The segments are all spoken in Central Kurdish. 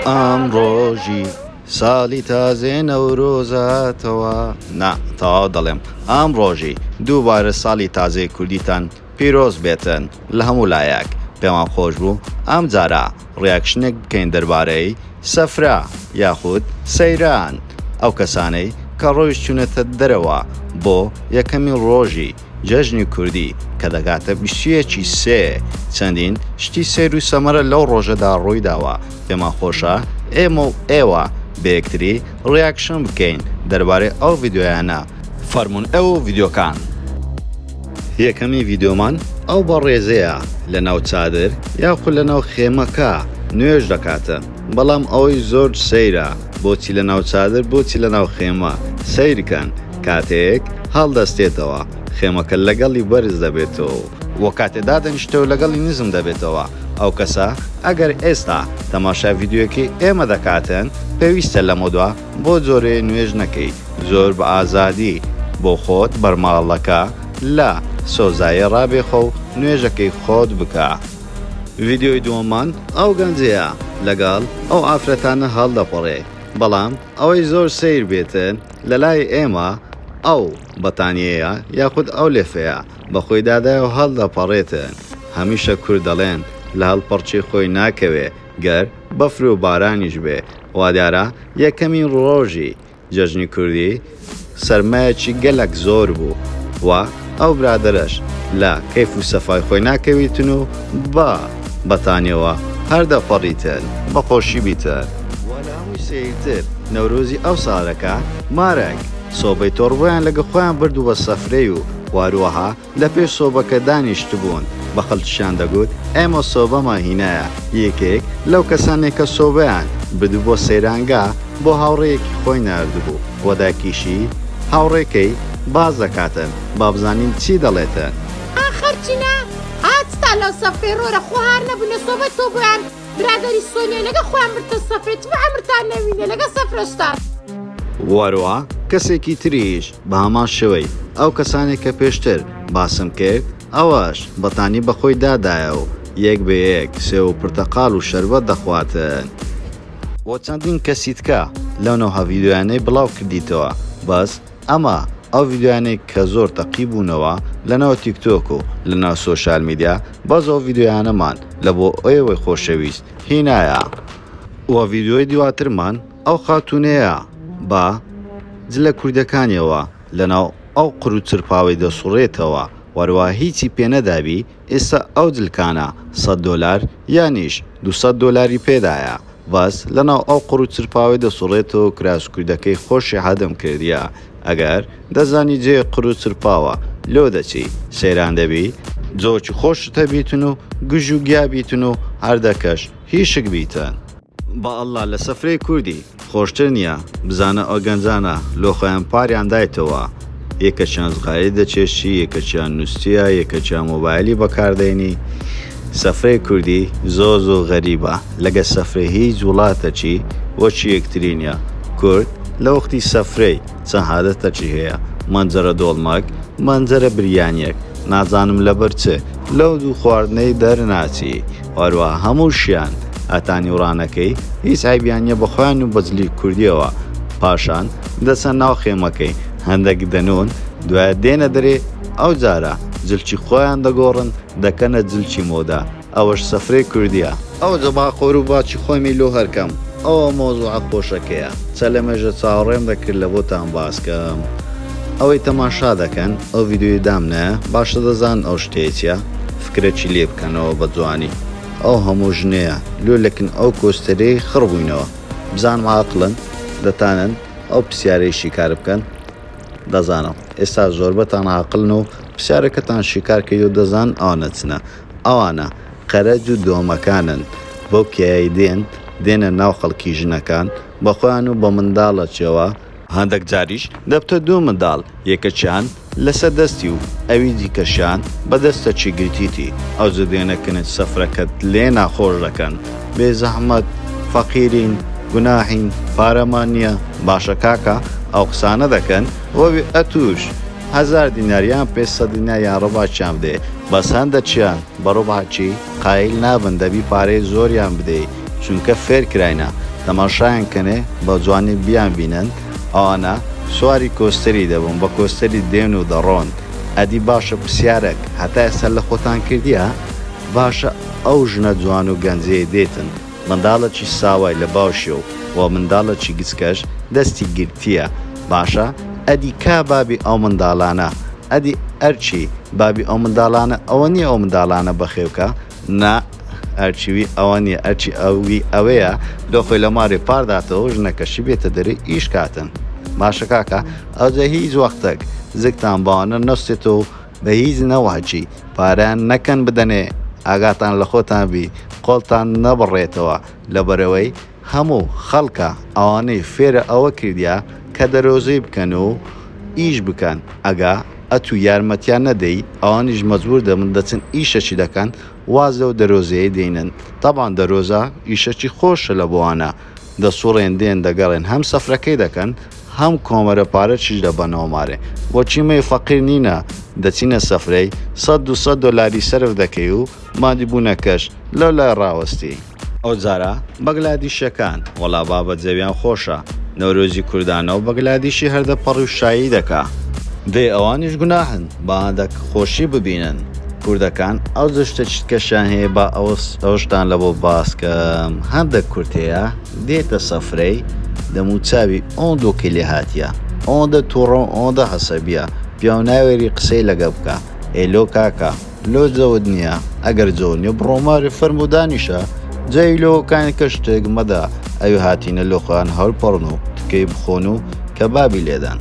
ئامڕۆژی ساڵی تازێ نەورۆزاتەوە نا تەواو دەڵێم ئامڕۆژی دووبارە ساڵی تازەی کوردیتان پیرۆز بێتن لە هەموو لایەک پێمان خۆش بوو ئەم جارە ڕیاکشنێک بکەین دەربارەی سەفرە یاخود سەیران ئەو کەسانەی کە ڕۆیشتونەتە دەرەوە بۆ یەکەمین ڕۆژی جەژنی کوردی کە دەگاتە بیستویەکی سێ چەندین شتی سەیر و سەمەرە لەو ڕۆژەدا ڕوویداوە، پێمان خۆشە ئێمە و ئێوە بەیەکتری ڕیاکشن بکەین دەربارەی ئەو ڤیدیۆیانە. فەرموون ئەو ڤیدیۆکان. یەکەمی ڤیدیۆمان ئەو بەڕێزەیە لەناو چادر یاخود لەناو خێمەکە نوێژ دەکات. بەڵام ئەوەی زۆر سەیرە بۆچی لە ناو چادر بۆچی لە ناو خێمە؟ سەیرکەن کاتێک هەڵدەستێتەوە خێمەکە لەگەڵی بەرز دەبێتەوەو. وە کاتێ دادەنیشتەوە لەگەڵی نزم دەبێتەوە ئەو کەسە ئەگەر ئێستا تەماشای ڤیدیۆیەکەی ئێمە دەکاتن پێویستە لەمەودوا بۆ جۆرێ نوێژ نەکەی زۆر بە ئازادی بۆ خۆت بەرماڵەکە لە سۆزایێ ڕابێخەو نوێژەکەی خۆت بکە. ڤیدیۆی دووەممان ئەو گەنجەیە لەگەڵ ئەو ئافرەتانە هەڵدەپەڕێ بەڵام ئەوەی زۆر سەیر بێت لەلای ئێمە ئەو بەتانیەیە یاخود ئەو لێفەیە بەخۆی دادایەو هەڵدەپەڕێت هەمیشە کورد دەڵێن لە هەڵپەڕچی خۆی ناکەوێ گەر بەفرو بارانیش بێ وادیارە یەکەمین ڕۆژی جەژنی کوردی سەرمایەکی گەلەک زۆر بوو و ئەو برادەرەش لە کەیف و سەفای خۆی ناکەویتن و با بەتانیەوە هەر دەپەڕیتن بە خۆشی بیتن. وە لە هەمووی سەیرتر نەورۆزی ئەو سارەکە مارەک سۆبەی تۆڕبوویان لەگە خۆیان بردبووە سەفرەی و واروەها لە پێش سۆبەکە دانیشتبوون، بە خەڵکیشیان دەگوت، ئێمە سۆبەمان هینایە، یەکێک لەو کەسانەی کە سۆبەیان بردبوو بۆ سەیرانگا، بۆ هاوڕێیەکی خۆی ناردبوو و دایکیشی، هاوڕێکەی، باس دەکاتن، با بزانین چی دەڵێتن. ئاخر چنە، ئاچتان لەو سەفرەی ڕۆرە، خۆ هار نەبوونە سۆبە تۆ بۆیان. برادەری سۆنیا لەگە خۆیان بردتە سەفرە تف عەمرتان نەمینێ لەگە سەفرەشتان. وەروە کەسێکی تریش بەهەمان شێوەی ئەو کەسانەی کە پێشتر باسم کرد ئەوەش بەتانی بەخۆی دادایە و یەک بە یەک سێو و پرتەقال و شەربەت دەخواتن. وە چەندین کەسی تکە لەو نەوها ڤیدیۆیانەی بڵاو کردیتەوە بەس ئەمە ئەو ڤیدیۆیانەی کە زۆر تەقی بوونەوە لەناو تیک تۆک و لەناو سۆشیال میدیا بەس ئەو ڤیدیۆیانەمان لە بۆ ئێوەی خۆشەویست هینایە وە ڤیدیۆی دواترمان ئەو خاتوونەیە بە جلە کوردەکانیەوە لەناو ئەو قرو چرپاوەی دەسوڕێتەوە وەروا هیچی پێ نەدابی ئیستا ئەو دلکانە سەد دۆلار یانیش دوو سەد دۆلاری پێدایە بەس لەناو ئەو قوڕو چرپاوەی دەسوڕێتۆ کراس کوردەکەی خۆشی حەدم کردیە ئەگەر دەزانی جێ قورو چرپاوە لۆ دەچی سەیران دەبی جۆکی خۆشت هەبیتن و گژو گیا بیتن و هەردەکەش هیشک بیتن. بە اللە لە سفرەی کوردی. خۆشتر نیە بزانە ئەوگەنجانە لۆخۆیان پاریان دایتەوە یەکەکیان زغالی دەچێشی یەکەکیان نوستیە یەکەکیان مۆبایلی بەکاردەینی سەفرەی کوردی زۆر زۆر غەریبە لەگە سەفرەی هیچ وڵاتەکی وەکی یەکتری نیە کورد لەوەختی سەفرەی چەند هادەتەکی هەیە مەنجەرە دۆڵمەک مەنجەرە بریانیەک نازانم لەبەر چ لەو دوو خواردنەی دەرناچی هەروا هەمووشیان هەتا نیوڕانەکەی هیچ عەیبیان نیە بە خۆیان و بە جلی کوردیەوە پاشان دەچنە ناو خێمەکەی هەندەک دەنوون دوایە دێنە دەرێ ئەو جارە جلکی خۆیان دەگۆڕن دەکەنە جلکی مۆدە ئەوەش سفرەی کوردیە. ئەوجە با قورو باکی خۆمی لۆ هەرکەم ئەوە مەوزوعە خۆشەکەیە چە لەمێژە چاوەڕێم دەکرد لە بۆتان باس کەم ئەوەی تەماشا دەکەن ئەو ڤیدیۆی دام نایە باشە دەزانن ئەو شتەیە چیە؟ کرچی لێ بکەنەوە بە جوانی ئەو هەموو ژنەیە لۆ لەکن ئەو کۆستەرەی خڕ بووینەوە بزانم ئاقلن دەتانن ئەو پسیارەی شیکار بکەن دەزانم ئێستا زۆربەتان ئاقلن و پسیارەکەتان شیکار کەیو دەزان ئەوانە چنە ئەوانە قەرەج و دۆمەکانن بەو کێیای دێن دێنە ناو خەڵکی ژنەکان بەخۆیان و بە منداڵەکیەوە هەندەک جاریش دەبتە دوو منداڵ، یەکەکیان لەسە دەستی و ئەوی دیکەشیان بە دەستەکی گرتیتی، ئەوجە دێنە کنج سفرەکەت لێ ناخۆش دەکەن، بێزەحمەت فەقیرین، گوناحین، پارەمان نیە، باشە کاکە ئەو قسانە دەکەن وەبێ ئەتووش هەزار دینار یان پێنج سەد دینار یان ڕوبعکیان بدەی، بەس هەندەکیان بە ڕوبعکی قایل نابن دەبی پارەی زۆریان بدەی، چونکە فێر کراینە تەماشایان کەنێ بە جوانی بیان بینن ئەوانە سواری کۆستەری دەبون بە کۆستەری دێن و دەڕۆن ئەدی باشە پرسیارەک هەتا ئێستا لە خۆتان کردیە باشە ئەو ژنە جوان و گەنجەی دێتن منداڵەکی ساوای لە باوشیە و وە منداڵەکی گچکەش دەستی گرتیە باشە ئەدی کا بابی ئەو منداڵانە ئەدی ئەرکی بابی ئەو منداڵانە ئەوە نیە ئەو منداڵانە بەخێوکە نا ئەرکی وی ئەوە نیە ئەرکی ئەوی ئەوەیە لۆ خۆی لە مارێ پارداتەوە ژنەکەشی بێتە دەرێ ئیش کاتن باشە کاکە ئەوجە هیچ وەختەک زگتان باوانە نەستێت و بە هیچ نەوەچی پارەیان نەکەن بدەنێ ئاگاتان لە خۆتان بی قۆڵتان نەبڕێتەوە لەبەرەوەی هەموو خەڵکە ئەوانەی فێرە ئەوە کردیە کە دەرۆزەی بکەن و ئیش بکەن ئەگا ئەتوو یارمەتیان نەدەی ئەوانیش مەجبور دەبن دەچن ئیشەکی دەکەن واز لەو دەرۆزەیەی دەینن تەبان دەرۆزە ئیشەکی خۆشە لە بۆانە دەسوڕێن دێن دەگەڕێن هەم سەفرەکەی دەکەن هەم کۆمەرە پارەکیش دەبەنەوە مارێ وەک ئیمەی فەقیر نینە دەچینە سەفرەی سەد دوو سەد دۆلاری سەرف دەکەی و مادی بونەکەش لەولای ڕاوەستی ئەوجارە بەگلادیشەکان وەڵا بابە جەویان خۆشە نەورۆزی کوردانەو بەگلادیشی هەر دەپەڕی و شایی دەکا. دەی ئەوانیش گوناحن با دەک خۆشی ببینن کوردەکان ئەو جشتە چتکەشیان هەیە با ئەوس ئەوشتان لەبۆ باسکەم هەندەک کورد هەیە دێتە سەفرەی دەموو چاوی ئۆن دۆکی لێ هاتیە ئۆندە توڕەو ئۆندە حەسەبیە پیاو ناوێری قسەی لەگە بکا ئێ لۆ کاکە لۆ جەوت نیە ئەگەر جەو نیە بڕۆ مارێ فەرموو دانیشە جەوی لۆ کانی کەس شتێک مەدە ئەوی هاتینە لۆ خۆیان هەور پەڕن و تکەی بخۆن و کەبابی لێدەن.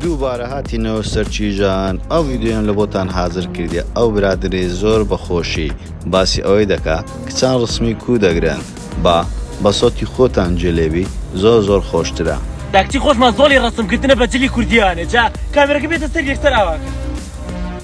دووبارە هاتینەوە سەر چیژان ئەو ڤیدیۆیەم لە بۆتان هازر کردیە ئەو برادەرەی زۆر بە خۆشی باسی ئەوەی دەکا کچان ڕسمی کوو دەگرن با بە سەوتی خۆتان جێ لێ بی زۆر زۆر خۆشترە. داکچی خۆشمان زۆڵی ڕەسم کردنە بە جلی کوردیانێ جا کامێرەکە بێتە سەر یەکسەر ئاوا کە.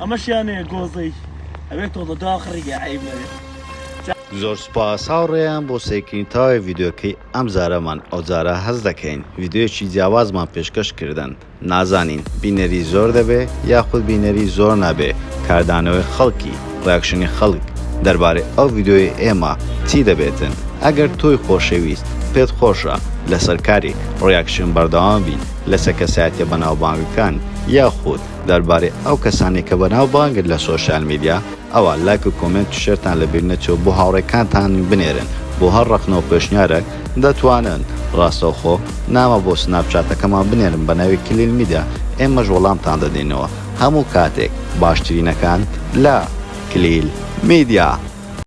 ئەمەشیان هەیە گۆزەی ئەبێت تۆڵە داخڕی گە عەیب نەبێت. زۆر سوپاس هاوڕێیان بۆ سەیرکردنی تەواوی ڤیدیۆکەی ئەم جارەمان ئەوجارە هەست دەکەین ڤیدیۆیەکی جیاوازمان پێشکەش کردن نازانین بینەری زۆر دەبێ یاخود بینەری زۆر نابێ کاردانەوەی خەڵکی ڕیاکشنی خەڵک دەربارەی ئەو ڤیدیۆیەی ئێمە چی دەبێتن ئەگەر تۆی خۆشەویست پێت خۆشە لەسەر کاری ڕیاکشن بەردەوام بین لەسەر کەسایەتیە بەناوبانگەکان یاخود دەربارەی ئەو کەسانەی کە بەناوبانگن لە سۆشیال میدیا ئەوا لایک و کۆمێنت و شێرتان لە بیر نەچێ بۆ هاوڕێکانتان بنێرن بۆ هەر ڕەخنە و پێشنیارەک دەتوانن ڕاستەوخۆ نامە بۆ سناپ چاتەکەمان بنێرن بە ناوی کلیل میدیا ئێمەش وەڵامتان دەدەینەوە هەموو کاتێک باشترینەکان لە کلیل میدیا.